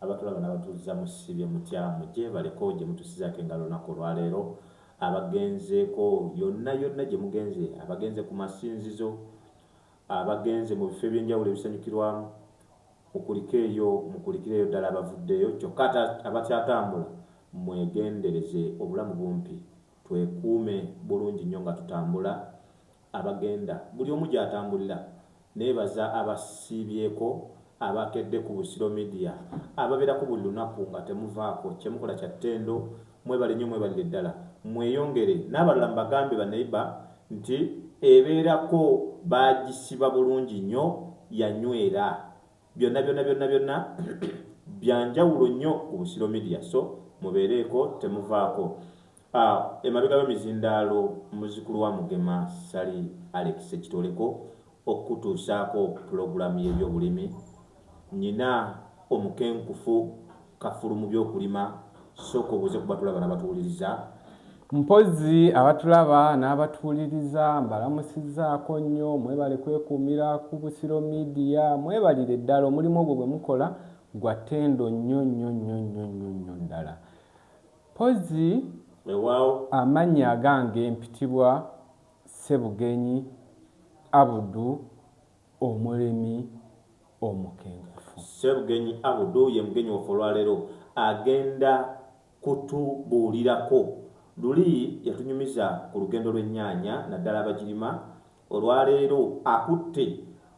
Abatulaba nabatuzza musibye mutya muje baleko jemutusizako engalo olunaku olwaleero abagenzeko yonna yonna jemugenze abagenze ku masinzizo abagenze mu bifo ebyenjawulo ebisanyukirwamu mukulike eyo mukulikire eyo ddala abavuddeyo kyokka abakyatambula mwegendereze obulamu bumpi twekuume bulungi nnyo nga tutambula abagenda buli omu gyatambulira nebaza abasiibyeko abakedde ku Busiro media ababerako buli lunaku nga temuvaako kyemukola kya ttendo mwebale nnyo mwebalire ddala mweyongere nabalala mbagambe ba neighbor nti ebeerako baagisiba bulungi nnyo yanyweera. Byonna byonna byonna byonna byanjawulo nnyo ku Busiro Media so mubeereeko temuvaako. Ah, emabega w'emizindaalo muzukulu wa Mugema Ssali Alex Ekitoleko okukutuusaako pulogulaamu y'ebyobulimi. Nnyina omukenkufu Kafulu mu by'okulima sooka obuuze ku batulaba n'abatuwuliriza. Mpozzi abatulaba n'abatuwuliriza mbalamusizzaako nnyo, mwebale kwekuumira ku Busiro Media, mwebalire ddala omulimu ogwo gwe mukola gwa ttendo nnyo nnyo nnyo nnyo nnyo nnyo ddala. Mpozzi Weewaawo. amannya agange mpitibwa Ssebugenyi Abudu. Omulimi omukenkufu. Ssebugenyi Abdu ye mugenyi waffe olwaleero. Agenda kutubuulirako luli yatunyumiza ku lugendo lw'ennyaanya naddala abagirima. Olwaleero akutte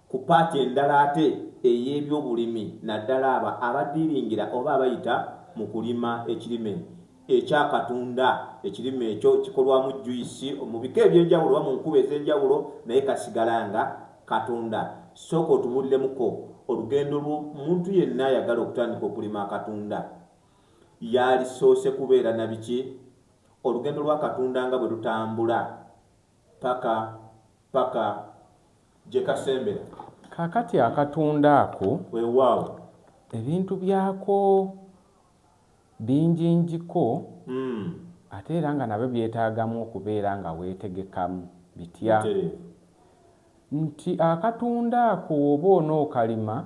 ku paati endala ate ey'ebyobulimi naddala abo abadiiringira oba abayita mu kulima ekirime ekya Katonda. Ekirime ekyo kikolwamu juyisi mu bika eby'enjawulo oba mu nkuba ez'enjawulo naye kasigala nga Katonda. Sooka otubulilemuko olugendo lwo muntu yenna ayagala okutandika okulima akatunda. Yaalisoose kubeera na biki? Olugendo lwa katunda nga bwe lutambula paka paka gye kasembera. Kaakati akatunda ako. Weewaawo. Ebintu byako. binjinjiko ate era nga nabyo byetaagamu okubeera nga weetegekamu. Bitya? Bitereevu. Nti akatunda ako woba onookalima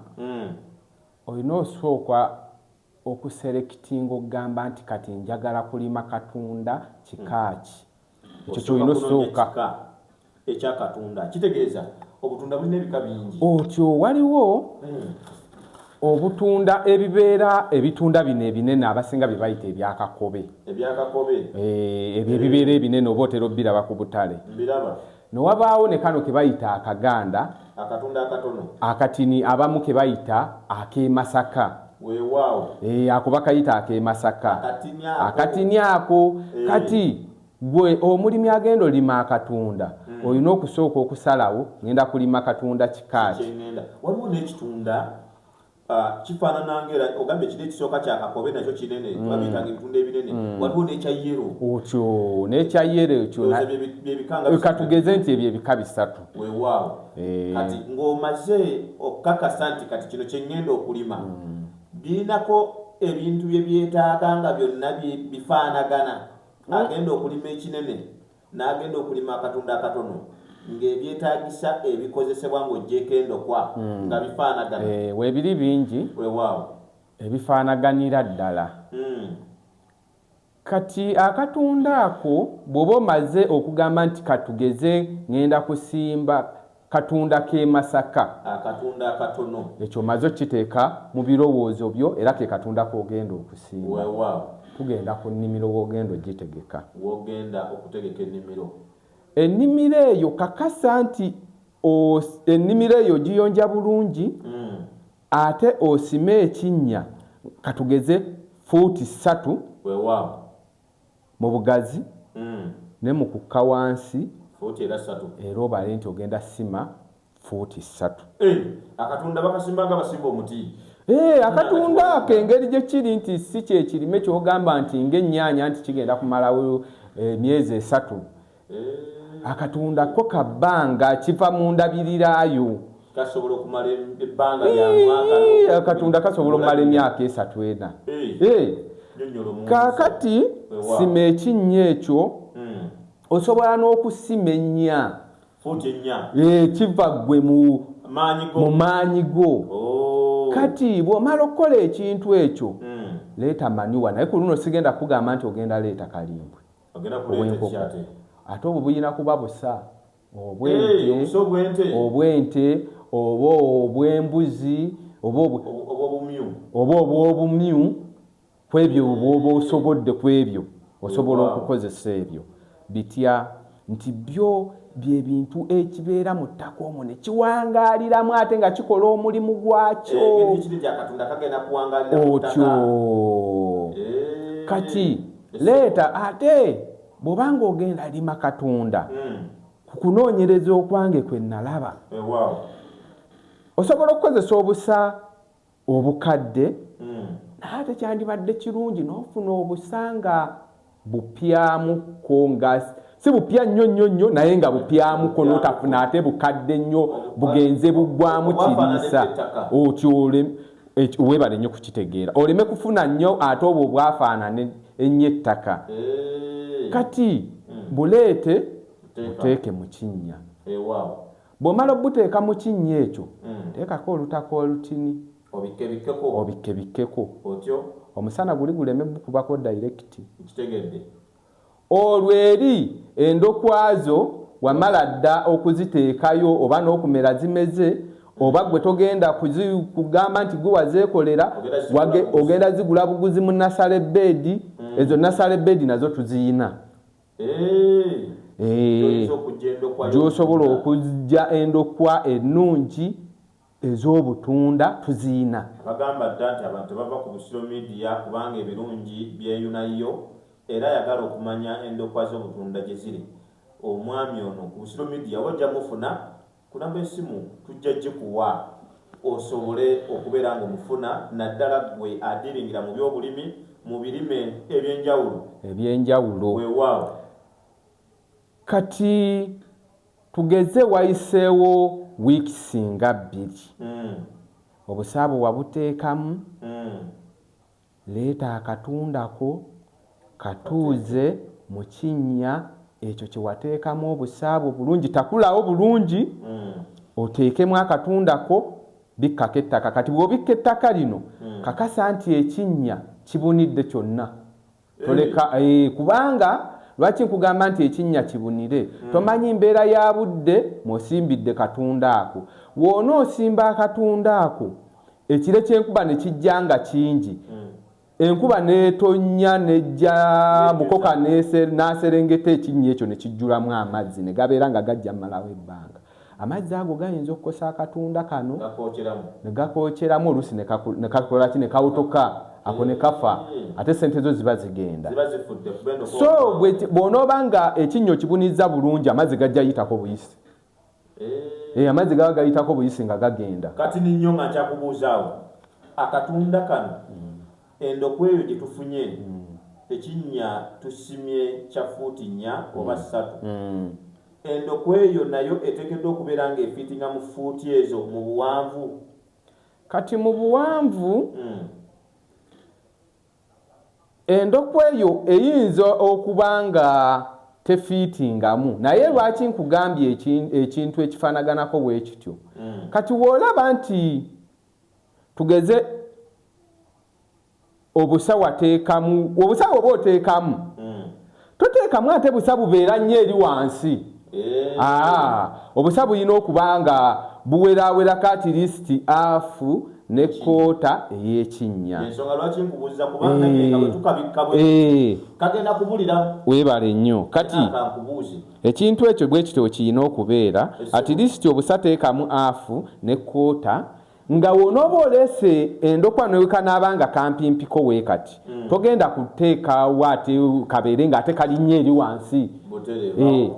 olina osooka okuselectinga okugamba nti kati njagala kulima katunda kika ki. Ekyo Osooka kyolina kunoonya osooka. kika. ekya katunda kitegeeza obutunda bulina ebika bingi otyo waliwo hmm. obutunda ebibeera ebitunda bino ebinene abasinga bye bayita ebyakakobe ebyakakobe eh, ebyo ebibeera ebinene oba otera obiraba ku butale mbiraba newabaawo ne kano ke bayita akaganda akatunda akatono akatini abamu ke bayita ak'emasaka weewaawo eh, ako bakayita ak'emasaka akatini ako eh. kati Gwe omulimi agenda olima akatunda mm. olina okusooka okusalawo ngenda kulima katunda kikaaki waliwo nekitunda uh, kifaanana ngaera ogambye kiri ekisooka kyakakobe nakyo kinene mm. babiyitanga ebitunda ebinene mm. waliwo nekya yero okyo nekya yero ekyo katugeze nti ebyo ebika bisatu wewaawo eh. kati ng'omaze okukakasa nti kati kino kyengenda okulima mm. birinako ebintu byebyetaaga nga byonna bifaanagana agenda okulima ekinene n'agenda okulima akatunda akatono ng'ebyetaagisa ebikozesebwa ng'ogyeko endokwa hmm. nga bifaanagana eh, webiri bingi wewaawo ebifaanaganira ddala hmm. kati akatunda ako bw'oba omaze okugamba nti katugeze ng'enda kusimba Katunda k'e Masaka. Akatunda akatono. Ekyo omaze okukiteeka mu birowoozo byo era ke katunda k'ogenda okusimba. Weewaawo. Tugenda ku nnimiro w'ogenda ogitegeka. W'ogenda okutegeka ennimiro. Ennimiro eyo kakasa nti ennimiro eyo ogiyonja bulungi mm. ate osime ekinnya katugeze fuuti ssatu. Weewaawo. mu bugazi ne mu kukka wansi era obale nti ogenda sima fuuti ssatu. Akatunda bakasimba nga basimba omuti? Ee, akatunda ako engeri gye kiri nti si kye kirime ky'ogamba nti ng'ennyaanya nti kigenda kumalawo emyezi esatu. akatunda ko ka bbanga kiva mu ndabirirayo akatunda kasobola okumala emyaka esatu ena kakati sima ekinnya ekyo hmm. osobola n'okusima ennya kiva ggwe mu maanyi go oh. kati bw'omala okukola ekintu ekyo hmm. leeta manuwa naye ku luno sigenda kugamba nti ogenda leeta kalimbwe obwenkoko ate obwo bulina kuba busa obwente obwente oba obwembuzi oba obwobumyu kwebyo bwoba osobodde kwebyo osobola okukozesa ebyo bitya nti byo byebintu ekibeera mu ttaka omwo ne kiwangaaliramu ate nga kikola omulimu gwakyo eh, otyo eh. kati leeta ate bw'oba ng'ogenda lima katonda hmm. ku kunoonyereza okwange kwe nalaba eh, osobola okukozesa obusa obukadde hmm. naye ate kyandibadde kirungi n'ofuna obusa nga bupyamukko nga si bupya nnyo nnyo nnyo naye nga bupyamuko notafuna ate bukadde nnyo bugenze buggwamu kiriisa otyole webale nnyo kukitegeera oleme kufuna nnyo ate obwo obwafaanana ennyo ettaka eh. kati hmm. buleete buteeke mu kinnya eh, bw'omala obuteeka mu kinnya ekyo hmm. teekako olutaka olutini obikkebikkeko omusana guli guleme bukubako dayirekiti Olwo eri endokwa zo wamala dda okuziteekayo oba n'okumera zimeze oba ggwe togenda kugamba nti ggwe wazeekolera, ogenda zigula buguzi mu nasale bbeedi, ezo nasale bbeedi nazo tuziyina gy'osobola okuggya endokwa ennungi. Ez'obutunda tuziyina. Abagamba dda nti abantu tebava ku Busiro Media kubanga ebirungi byeyuna yo era ayagala okumanya endokwa z'obutunda gye ziri, omwami ono ku Busiro Media wojja mufuna ku namba y'essimu tujja gikuwa osobole okubeera ng'omufuna naddala ggwe adiiringira mu by'obulimi mu birime eby'enjawulo. Eby'enjawulo. Weewaawo. Kati. Tugeze wayiseewo wiikisi nga bbiri obusaabu wabuteekamu, leeta akatunda ko katuuze mu kinnya ekyo kye wateekamu obusaabu obulungi, takulawo bulungi oteekemu akatunda ko, bikkako ettaka. Kati bw'obikka ettaka lino kakasa nti ekinnya kibunidde kyonna toleka eh, kubanga lwaki nkugamba nti ekinnya kibunire hmm. tomanyi mbeera ya budde mwosimbidde katunda ako woona osimba akatunda ako ekire kyenkuba ne kijja nga kingi hmm. enkuba netonnya nejja mukoka naserengeta ekinnya ekyo ne kijjulamu amazzi ne gabeera nga gajja mumalawo ebbanga Amazzi ago gayinza okukosa akatunda kano ne gakookeramu oluusi ne kakola ki ne kawutuka ako ne kafa ate ssente zo ziba zigenda. So bw'onooba nga ekinnya okibunizza bulungi amazzi gajja yitako buyisi. Eh. eh, amazzi gaba gayitako buyisi nga gagenda. Kati ninyo nga nkyakubuuzaawo akatunda kano Endo kweyo gyetufunye ekinnya tusimye kya ffuuti nnya oba ssatu. Endo kweyo nayo eteekeddwa okubeera ng'efiitinga mu ffuuti ezo mu buwanvu. Kati mu buwanvu endo kweyo eyinza okuba nga tefiitingamu naye lwaki nkugambye ekintu ekifaanaganako bwe kityo. Kati w'olaba nti tugeze obusa wateekamu obusa oba oteekamu hmm. toteekamu ate busa bubeera nnyo eri wansi eh. ah, obusa bulina okuba nga buwerawerako atirisiti afu ne koota eyekinnya eh. eh. webale nnyo kati Ekintu ekyo bwekityo wekiyina okubeera at least obusa teekamu half ne quarter nga wonoba oleese endokwa newekanaaba nga kampimpiko wekati mm. togenda kuteekawo ate kabeere nga ate kalinnyo eri wansi eh,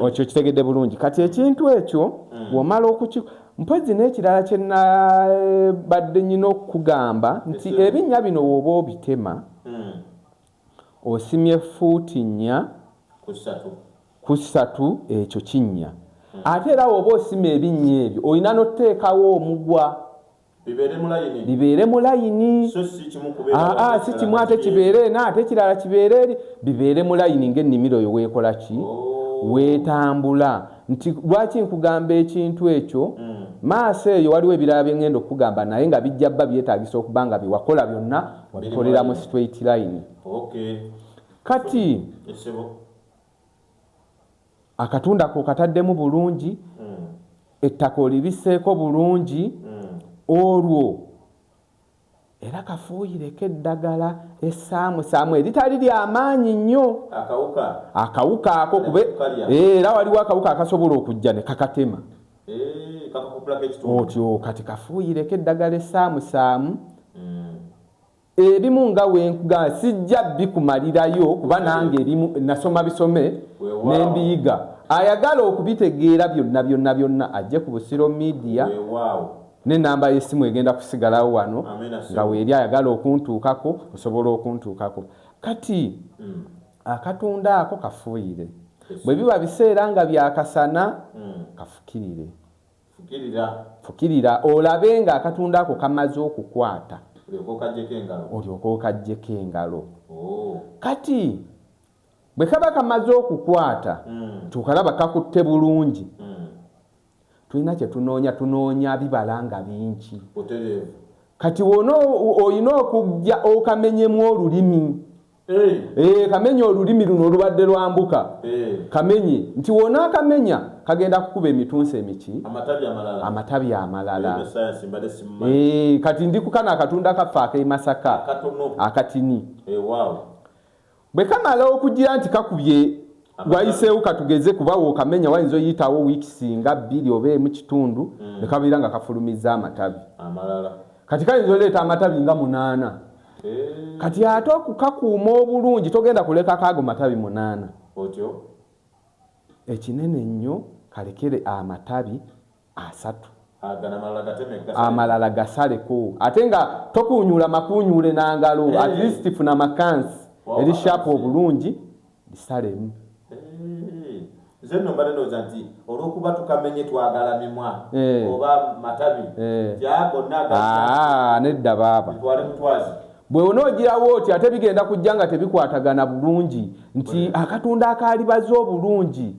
okyo kitegedde bulungi kati ekintu ekyo mm. womala okuki mpozi n'ekirala kyenabadde nyina okukugamba nti ebinnya bino woba obitema mm. Osimye fuuti nnya ku ssatu ekyo kinnya. Ate era woba osima ebinnya ebyo olina noteekawo omugwa bibeere mu layini aa si kimu ate kibeere eno ate ekirala kibeere eri bibeere mu layini nga ennimiro yo weekola ki oh. weetambula nti lwaki nkugamba ekintu ekyo hmm. maaso eyo waliwo ebirala bye ngenda okukugamba naye nga bijja bba byetaagisa okuba nga byewakola byonna bikolera mu straight line kati akatunda ko kataddemu bulungi hmm. ettaka olibiseeko bulungi hmm. olwo era kafuuyireko eddagala esaamusaamu eritali lyamaanyi nnyo akawuka ako kube era waliwo akawuka akasobola okujja ne kakatema otyo kati kafuuyireko eddagala esaamusaamu mm. ebimu nga wenkugamba sijja bikumalirayo kuba nange ebimu nasoma bisome nembiyiga ayagala okubitegeera byonna byonna byonna ajje ku busiro midiya nenamba yesimu egenda kusigalawo wano nga weeri ayagala okuntuukako osobola okuntuukako kati mm. Akatunda ako kafuuyire. Bwe biba biseera nga bya kasana, hmm. kafukirire. Fukirira olabe nga akatunda ako kamaze okukwata, olyoka okaggyeko engalo. Oh. Kati bwe kaba kamaze okukwata, hmm. tukalaba kakutte bulungi. Hmm. tulina kyetunoonya tunoonya bibala nga bingi kati wona olina okujja okamenyemu olulimi eh, kamenye olulimi luno olubadde lwambuka kamenye nti wona akamenya kagenda kukuba emitunsi emiki amatabi amalala eh, kati ndikukana akatunda kaffe akeimasaka akatini eh, Bwe kamala okugira nti kakubye wayiseewo katugeze kuba wokamenya wayinza oyitawo wiiki singa bbiri oba emu kitundu mm. ne kabeera nga kafulumizza amatabi kati kayinza oleeta amatabi nga munaana eh. kati ate okukakuuma obulungi togenda kulekako ago matabi munaana ekinene nnyo kalekere amatabi asatu amalala gasaleko ate nga tokunyula makunyule nangalo hey. at least funa makansi wow, eri shapu obulungi bisalemu nedda baaba bwe onoogirawo oti ate bigenda kujja nga tebikwatagana bulungi nti akatunda akaalibaza obulungi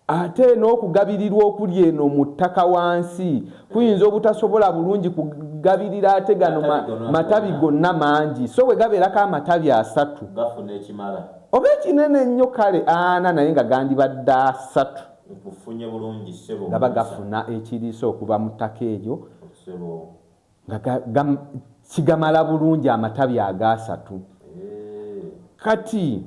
Ate n'okugabirirwa okuli eno mu ttaka wansi kuyinza obutasobola bulungi kugabirira ate gano matabi gonna mangi so bwe gabeerako amatabi asatu oba ekinene ennyo kale ana naye nga gandibadde asatu gaba gafuna ekiriisa okuva mu ttaka eryo nga kigamala bulungi amatabi agaasatu kati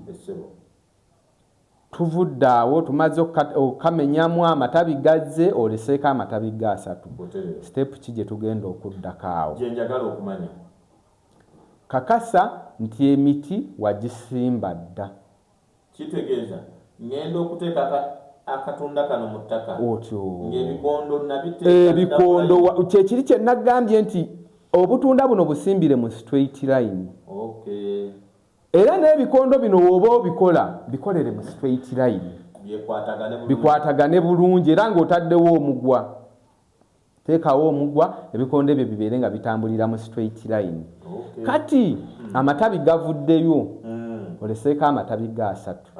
Tuvudde awo tumaze okukamenyamu amatabi gazze oleseeko amatabi go asatu. Step ki gye tugenda okuddako awo? Gye njagala okumanya. Kakasa nti emiti wagisimba dda. Kitegeeza ngenda okuteeka akatunda kano mu ttaka ng'ebikondo nabiteeka? Ebikondo kye kiri kye nagambye nti obutunda buno busimbire mu straight line. Okay. Era n'ebikondo bino w'oba obikola bikolere mu straight line bikwatagane bulungi era ng'otaddewo omugwa. Teekawo omugwa ebikondo ebyo bibeere nga bitambulira mu straight line. Kati hmm. amatabi gavuddeyo hmm. oleseeko amatabi ga asatu.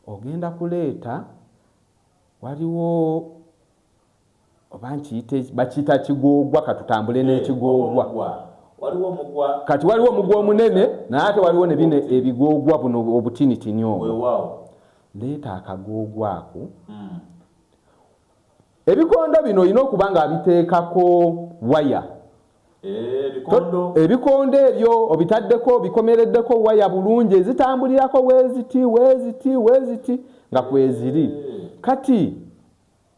Ogenda kuleeta waliwo oba nkiyite bakiyita kigoogwa katutambule eh, n'ekigoogwa kati waliwo omugwa omunene naye ate waliwo nebino ebigoogwa buno obutinitini obwo leeta akagoogwa ako hmm. ebikondo bino olina okuba nga abiteekako waya eh, ebikondo ebyo obitaddeko bikomereddeko waya bulungi ezitambulirako weziti weziti weziti nga kweziri eh. kati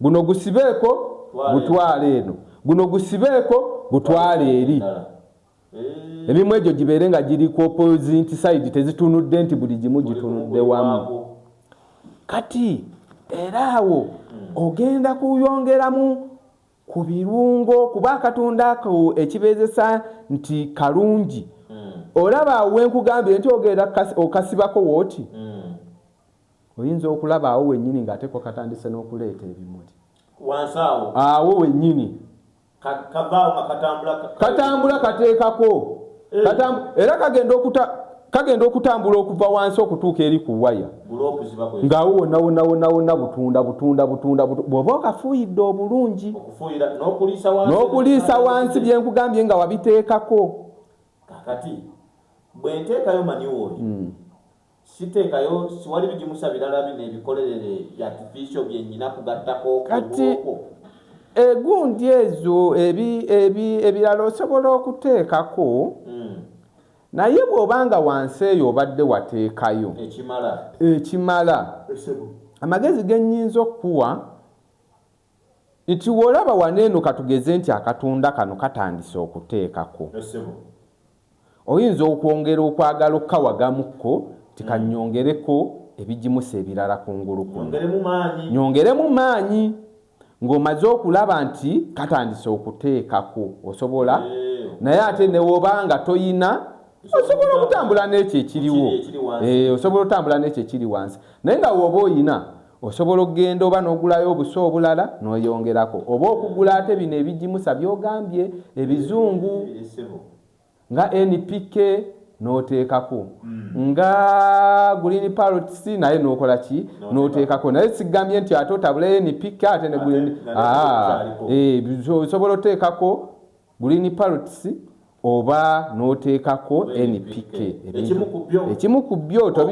Guno gusibeeko gutwale eno, guno gusibeeko gutwale eri. Emimu egyo gibeere nga giri ku opposite side, tezitunudde nti buli gimu gitunudde wamu. Kati era awo hmm. ogenda kuyongeramu ku birungo kuba akatonda ako ekibeezesa nti kalungi hmm. olaba wenkugambire nti ogenda okasibako wooti hmm. Oyinza okulaba awo wennyini ng'ate ko katandise n'okuleeta ebimuli. Wansi awo. Awo wennyini. Ka, kavaawo nga katambula. Ka, katambula kateekako. Hey. Eh. Katamb era kagenda okuta kagenda okutambula okuva wansi okutuuka eri ku waya ng'awo wonna wonna wonna wonna butunda butunda butunda bw'oba okafuuyidde obulungi n'okuliisa wansi bye nkugambye nga wabiteekako kakati bwe nteekayo manyi wooyo hmm. siteekayo siwali bigimusa birala bino ebikolerere byatifiisio bye nnyina kugattako kati egundi ezo ebirala osobola okuteekako hmm. naye bw'oba nga wansi eyo obadde wateekayo ekimala amagezi ge nnyinza okukuwa Nti wolaba wano eno katugeze nti akatunda kano katandise okuteekako, oyinza okwongera okwagala okukawagamu ko nti kannyongereko ebigimusa ebirala kungulu kuno, nyongeremu maanyi. Ng'omaze okulaba nti katandise okuteekako osobola naye ate ne woba nga toyina osobola okutambula n'ekyo ekiriwo, osobola otambula n'ekyo ekiri wansi naye nga woba oyina. Osobola okugenda oba nogulayo obusa obulala noyongerako oba okugula ate bino ebijimusa byogambye ebizungu nga NPK notekako mm. nga green parrots naye nokola ki notekako naye sigambye nti ate otabule NPK ate ne green ah eh bizosobola otekako Green parrots oba n'oteekako NPK ekimu ku byo otyo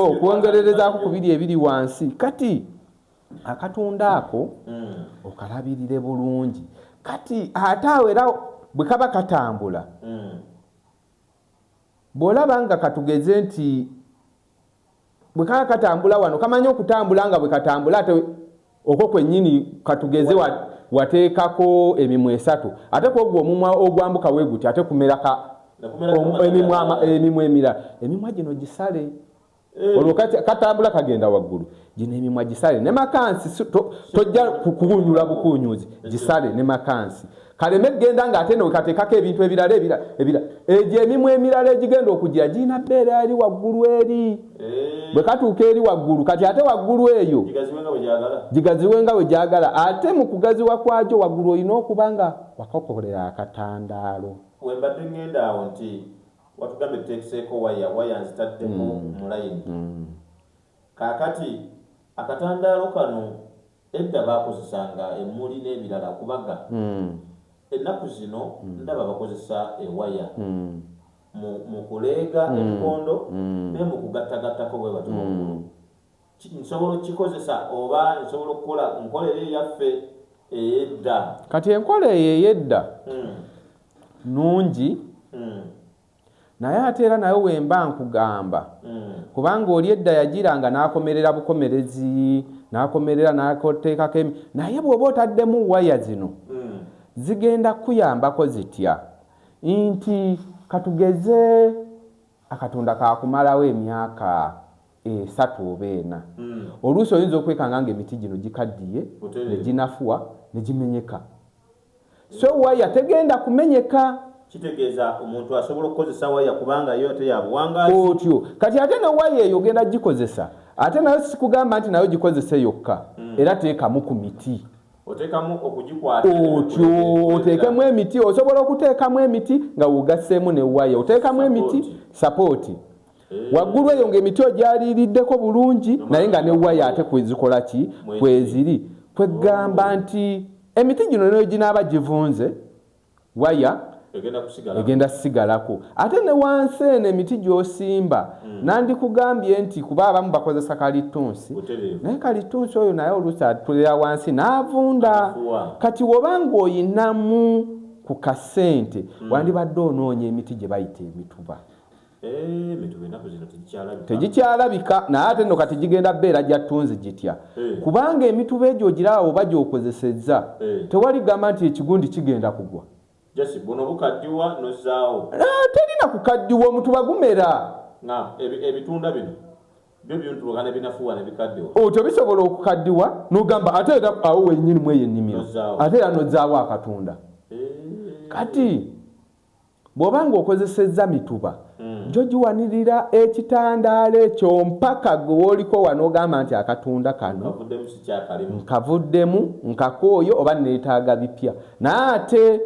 okwongererezaako ku biri ebiri wansi kati akatunda ako hmm. okalabirire bulungi kati ate awo era bwe kaba katambula hmm. bw'olaba nga katugeze nti bwe kaba katambula wano kamanyi okutambula nga bwe katambula ate okwo kwennyini katugeze wateekako emimwa esatu ate kwogwo omumwa ogwambuka we guti ate kumeraka emimwa emirala emimwa gino gisale eh. olwo katambula kagenda waggulu gino emimwa gisale ne makansi tojja kukunyula bukunyuzi gisale ne makansi kaleme kugenda nga ate newekateekako ebintu ebirala ebira ebira egyo emimu emirala egigenda okujira girina bbeera eri waggulu eri eh. bwe katuuka eri waggulu kati ate waggulu eyo gigaziwe nga we gyagala ate mu kugaziwa kwagyo waggulu olina okuba nga wakakolera akatandaalo wembadde ŋŋenda awo nti watugambye tuteekeseeko waya waya nzitaddemu mm. mulayini mm. Kaakati, akatandaalo kano, edda baakozesanga emmuli n'ebirala okubaga. Ennaku zino ndaba bakozesa ewaya, mu, mu kuleega ebikondo, ne mu kugattagattako bwe batyo waggulu. Ki, nsobola okukikozesa, oba nsobola okukola, nkola eyo eyaffe ey'edda. Kati enkola eyo ey'edda nnungi. naye ate era nayo wemba nkugamba mm. kubanga oli edda yagiranga n'akomerera bukomerezi n'akomerera n'ateekako emi naye bw'oba otaddemu waya zino mm. zigenda kukuyambako zitya nti katugeze akatonda kakumalawo emyaka esatu oba ena mm. oluusi oyinza okwekanga nga emiti gino gikaddiye ne ginafuwa ne gimenyeka so waya tegenda kumenyeka kitegeeza omuntu asobola okukozesa waya kubanga yo ate yabuwangazi otyo kati ate ne waya eyo ogenda gikozesa ate nayo sikugamba nti nayo gikozese yokka mm. era teekamu ku miti otekamu okugikwata otyo oteekemu emiti osobola okuteekamu emiti nga wogasseemu ne waya oteekamu emiti sapooti eh. waggulu eyo ngaemiti ogyaliiriddeko bulungi naye nga ne waya ate kwezikola ki kweziri kwegamba nti Emiti gino ne bwe ginaaba givunze, waya egenda kusigalako. Ate ne wansi eno emiti gy'osimba hmm. nandikugambye nti kuba abamu bakozesa kalittunsi, naye kalittunsi oyo naye oluusi atulira wansi n'avunda. Kati woba ng'oyinamu ku kasente hmm. wandibadde onoonya emiti gye bayita emituba. Eh, tegikyalabika naye ate no kati gigenda beera gyattunzi gitya eh. kubanga emituba egyo ogiraawo oba gyokozesezza eh. tewali gamba nti ekigundi kigenda kugwa ah, terina kukaddiwa omutuba gumera otyo oh, bisobola okukaddiwa nogamba ate era awo wenyini mweyo ennimiro ate era nozaawo akatunda kati Bw'oba ng'okozesezza mituba gyo giwanirira ekitandaalo ekyo mpaka gwe w'oliko wa n'ogamba nti akatunda kano nkavuddemu, nkakooye oba nneetaaga bipya. Naye ate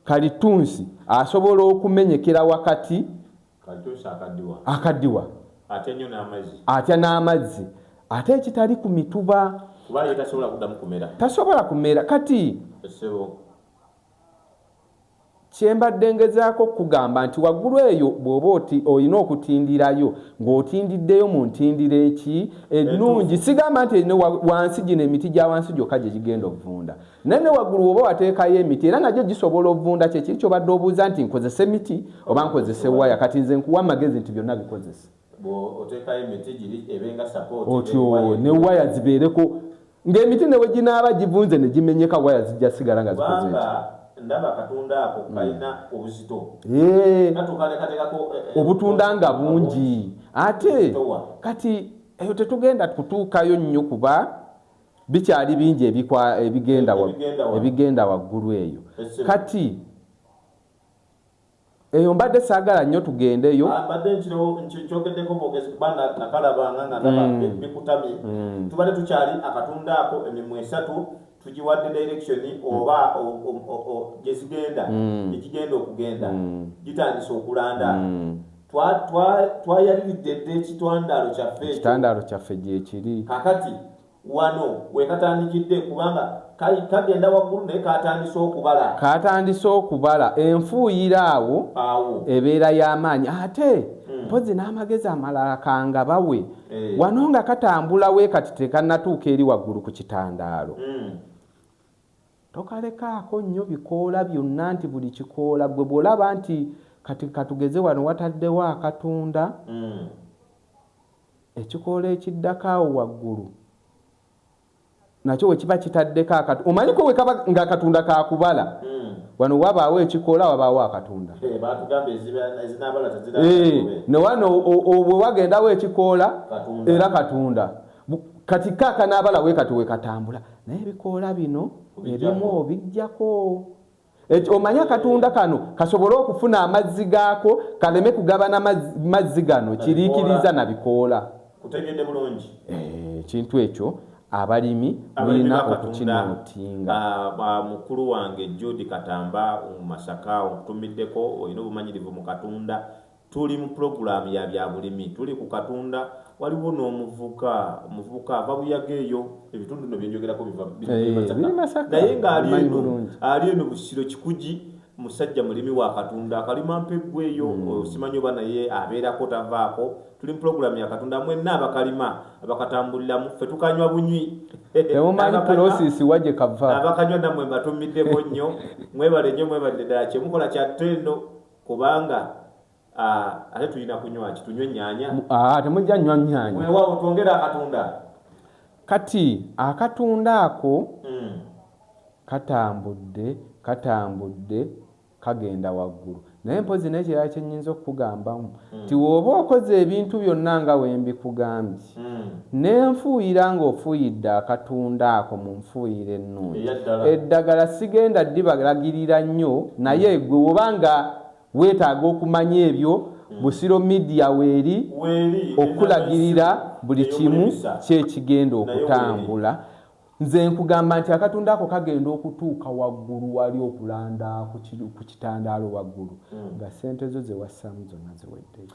kalittunsi asobola okumenyekera wakati, akadiwa, atya n'amazzi ate ekitali ku mituba tasobola kumera. Kati. Kye mbadde ngezaako okukugamba nti waggulu eyo bw'oba olina okutindirayo ng'otindiddeyo mu ntindiro eki ennungi. Sigamba nti erina wansi gino emiti gya wansi gyokka gye gigenda okuvunda, naye ne waggulu w'oba wateekayo emiti era nagyo gisobola okuvunda. Kye kiri ky'obadde obuuza nti nkozese miti oba nkozese waya, kati nze nkuwa amagezi nti byonna bikozese. otyo ne waya zibeereko ng'emiti ne bwe ginaaba givunze ne gimenyeka waya zijja sigala nga zikoze obutunda nga bungi ate kati eyo tetugenda kutuukayo nnyo kuba bikyali bingi ebigenda waggulu eyo kati Eyo mbadde saagala nnyo tugendeyo. Ah, mbadde nkyogeddeko bwogezi kuba nakalabanga nga naba mm. bikutamye. Mm. Tubadde tukyali akatunda ako emimwa esatu tugiwadde direction mm. oba gye zigenda gye gigenda okugenda gitandise okulanda. Twayaliridde dda ekitwandaalo kyaffe ekyo. Ekitwandaalo kyaffe gyekiri. Kakati. Wano wekatandikidde kubanga kali kagenda waggulu naye katandise okubala. Katandise okubala enfuuyira awo Awo. ebeera y'amaanyi ate hmm. mpozi n'amagezi amalala kanga bawe eh. wano nga katambula we kati tekannatuuka eri waggulu ku kitandaalo. Hmm. Tokalekaako nnyo bikoola byonna nti buli kikoola gwe bw'olaba nti kati katugeze wano wataddewo akatunda. Hmm. Ekikoola ekiddako awo waggulu nakyo bwe kiba kitaddeko akatu omanyi ko bwe kaba nga akatunda ka kubala wano wabaawo ekikoola wabaawo akatunda ne wano bwe wagendawo ekikoola era katunda kati ka kanaabala we kati we katambula naye ebikoola bino ebimu obiggyako Eki, omanyi akatunda kano kasobole okufuna amazzi gaako kaleme kugabana mazzi gano kiriikiriza na bikoola kutegedde bulungi eh, ekintu ekyo abalimi mulina okukinootinga ah, mukulu wange judi katamba masaka onkutumiddeko olina obumanyirivu mu katunda Tuli mu pulogulaamu ya byabulimi. Tuli ku katunda. Waliwo n'omuvuka omuvubuka ava buyaga eyo ebitundu no byenjogerako biva eh, naye ng'ali eno ali eno busiro kikugi musajja mulimi wa katunda akalima mpeggwa eyo hmm. osimanyi oba naye abeerako tavaako tuli mu pulogulaamu ya katunda mwenna abakalima abakatambuliramu ffe tukanywa bunywi abakanywa namwe mbatumiddeko nnyo mwebale nnyo mwebalire ddala kyemukola kyatto eno kubanga ate tulina kunywa ki tunywe nyanya temujja nywa nyanya wewawo twongere akatunda kati akatunda ako hmm. katambudde katambudde kagenda waggulu naye mpozi nekirala kyenyinza okukugambamu hmm. ti woba okoze ebintu byonna nga wembikugambye N'enfuuyira ng'ofuuyidde akatunda ako mu nfuuyira ennungi. Eddagala sigenda ddibalagirira nnyo naye ggwe woba nga weetaaga okumanya ebyo, Busiro Media weeri okukulagirira buli kimu ki ekigenda okutambula. Nze nkugamba nti akatunda ako kagenda okutuuka waggulu wali okulanda ku kitandaalo waggulu nga ssente zo ze wassaamu zonna ziweddeyo.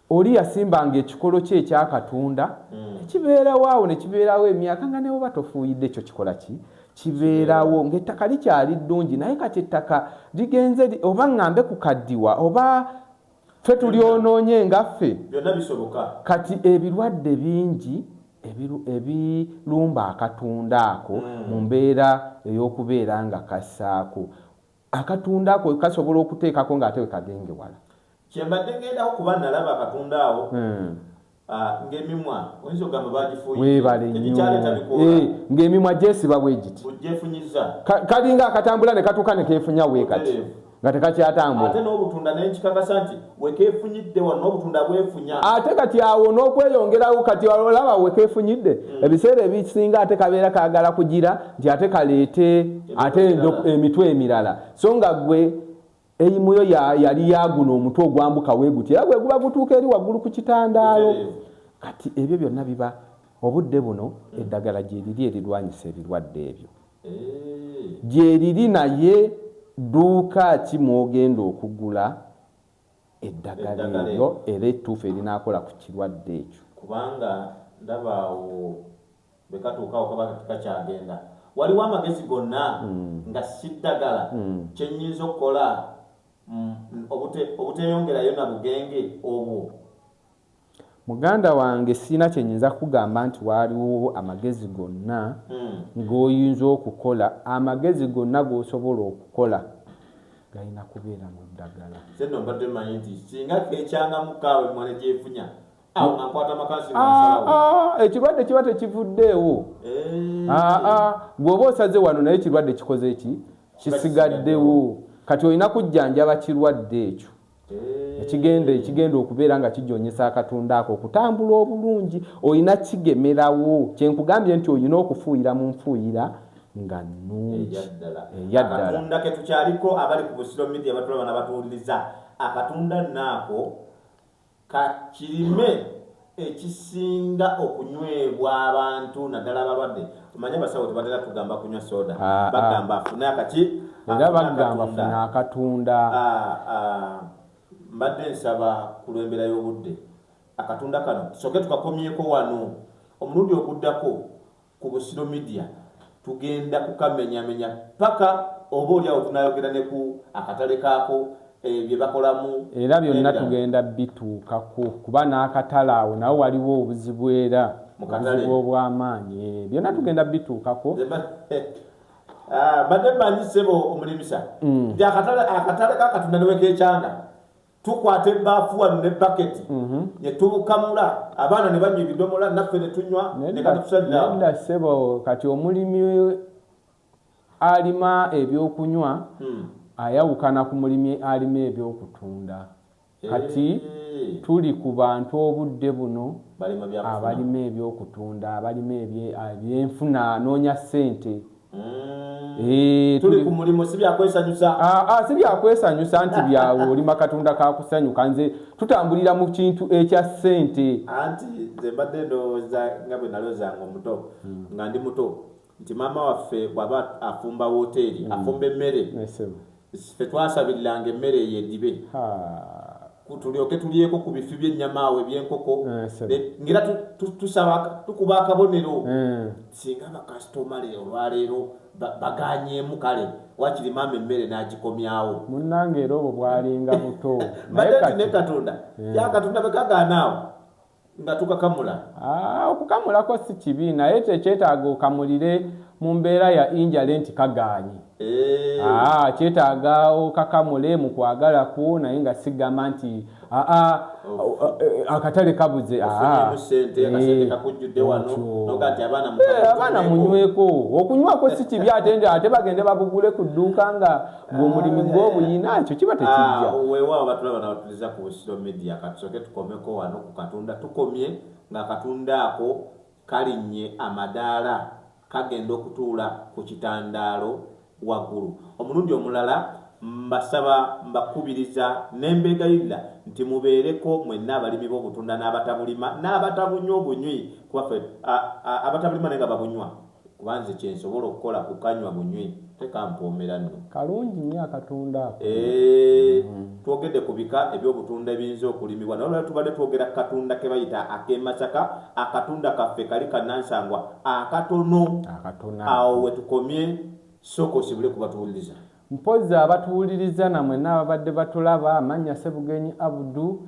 Oli yasimbanga ekikolo kye ekya katunda mm. ekibeerawo awo ne kibeerawo emyaka nga newoba tofuuyidde ekyo kikola ki kibeerawo ng'ettaka likyali ddungi naye kati ettaka ligenze oba ŋŋambe ku kaddiwa oba ffe tulyonoonye ngaffe kati ebirwadde bingi ebirumba akatunda ako hmm. mu mbeera ey'okubeera nga kassaako Akatunda ako kasobola okuteekako ng'ate we kagenge wala. Kye mbadde ngendako kuba nalaba akatunda awo. Hmm. Ah, ng'emimwa oyinza okugamba baagifuuye. Weebale nnyo. Eh, ng'emimwa gyesiba bwe giti. Gyefunyiza. Kalinga akatambula ne katuuka ne keefunya wee kati. Nga tekakyatambula. Ate n'obutunda ne nkikakasa nti. wekefunyidde wano obutunda bwefunya ate kati awo n'okweyongerawo kati olaba wekefunyidde mm. ebiseera ebisinga ate kabeera kagala kugira nti ate kaleete ate emitwe emirala so nga gwe eyimuyo yali yaguno omutwe ogwambuka weguti era gweguba gutuuka eri waggulu ku kitandaalo kati ebyo byonna biba obudde buno eddagala gyeriri erirwanyisa ebirwadde ebyo gyeriri naye dduuka ki mwogenda okugula eddagala eryo era ettuufu erinaakola ku kirwadde ekyo kubanga ndaba awo bwekatuukawo kaba kakyagenda waliwo amagezi gonna mm. nga siddagala mm. kyenyinza okukola mm, obuteyongerayo na bugenge obwo Muganda wange sirina kyenyinza kukugamba nti waaliwo amagezi gonna goyinza okukola, amagezi gonna gosobola okukola galina kubeera mu ddagala. Nze nno mbadde manyi nti singa kecangamu kaawa emmwanyi gyefunya awo nga nkwata makasi nga nsalawo. Aa aa ekirwadde kiba tekivuddeewo. Aa aa gwe oba osaze wano naye ekirwadde kikoze ki? Kisigaddewo. Kati olina kujjanjaba kirwadde ekyo. ekigenda ekigenda okubeera nga kijonyesa akatunda ako okutambula obulungi olina kigemerawo kyenkugambye nti olina okufuuyira mu nfuuyira nga nungi eyaddala ketukyaliko abali ku busiro media batulaba nabatuwuliriza akatunda naako kakirime ekisinga okunywebwa abantu naddala abalwadde omanye abasawo tebatera tugamba kunywa soda ah, ah. bagamba afune akaki era bagamba funa akatunda ah, mbadde nsaba ku lwembeera y'obudde akatunda kano soke tukakomyeko wano omulundi oguddako ku Busiro Media tugenda kukamenyamenya paka oba oli awo tunayogera ne ku akatale kaako eh, bye bakolamu era byonna tugenda bituukako kuba n'akatale awo nawe waliwo obuzibu era obuzibu obw'amaanyi eh, byonna tugenda bituukako Ah, bade manyi sebo omulimisa mm. ndi akatale akatale kakatunda newekekyanga tukwata ebbaafu wano ne baketi mhm. ne tubukamula abaana ne banywa ebidomola naffe ne tunywa nekatusaliraoda sebo kati omulimi alima ebyokunywa hmm. ayawukana ku mulimi alima ebyokutunda eh. kati tuli ku bantu obudde buno abalima ebyokutunda abalima ebyenfuna anoonya ssente Eh, tuli ku mulimu si byakwesanyusa ah, ah, si byakwesanyusa nti byawe olima katonda kakusanyuka nze tutambulira mu kintu ekya ssente anti nze mbadde ndowooza nga bwe nalozanga omuto hmm. nga ndi muto nti maama waffe bwaba afumba woteeri hmm. afumba emmere Ffe twasabiriranga emmere eyo edibe ku tulyoke tulyeko ku bifi by'ennyama awo eby'enkoko eh, ngera tusaba tukuba akabonero eh. singa bakasitoma le olwaleero baganyemu kale wakiri maama emmere n'agikomyawo munnange era obwo bwalinga buto naye kati ne katonda eh. ya katonda bwe kagaanaawo nga tukakamula ah, okukamulako si kibi naye kyekyetaaga okamulire mu mbeera ya injale nti kagaanyi eh. ah, kyetaaga okakamule mu kwagala kwo naye nga sigamba nti ah, ah, eh, akatale kabuze eh, abaana munyweko okunywako si kibi ate nti ate bagende babugule ku dduuka nga ng'omulimu gw'obuyina ah, ekyo kiba tekijja ah, weewaawo batulaba nabatuliza ku busiro media katusoke tukomeko wano ku katonda tukomye nga katonda ako kalinnye amadaala kagenda okutuula ku kitandaalo waggulu omulundi omulala mbasaba mbakubiriza nembeegayirira nti mubeereko mwenna abalimi b'obutunda n'abatabulima n'abatabunywa obunywi kubafe abatabulima naye nga babunywa Kuba nze kyensobola okukola kukanywa bunywi teka mpoomera nno. Kalungi nnyo akatunda ako. Eeh twogedde ku bika eby'obutunda ebiyinza okulimibwa naye olwaleero tubadde twogera ku katunda ke bayita ak'e Masaka. Akatunda kaffe kali ka nnansangwa akatono. Akatono ako. Awo we tukomye sooka osibule ku batuwuliriza. Mpozzi abatuwuliriza na mwenna ababadde batulaba. Amannya Ssebugenyi Abdu.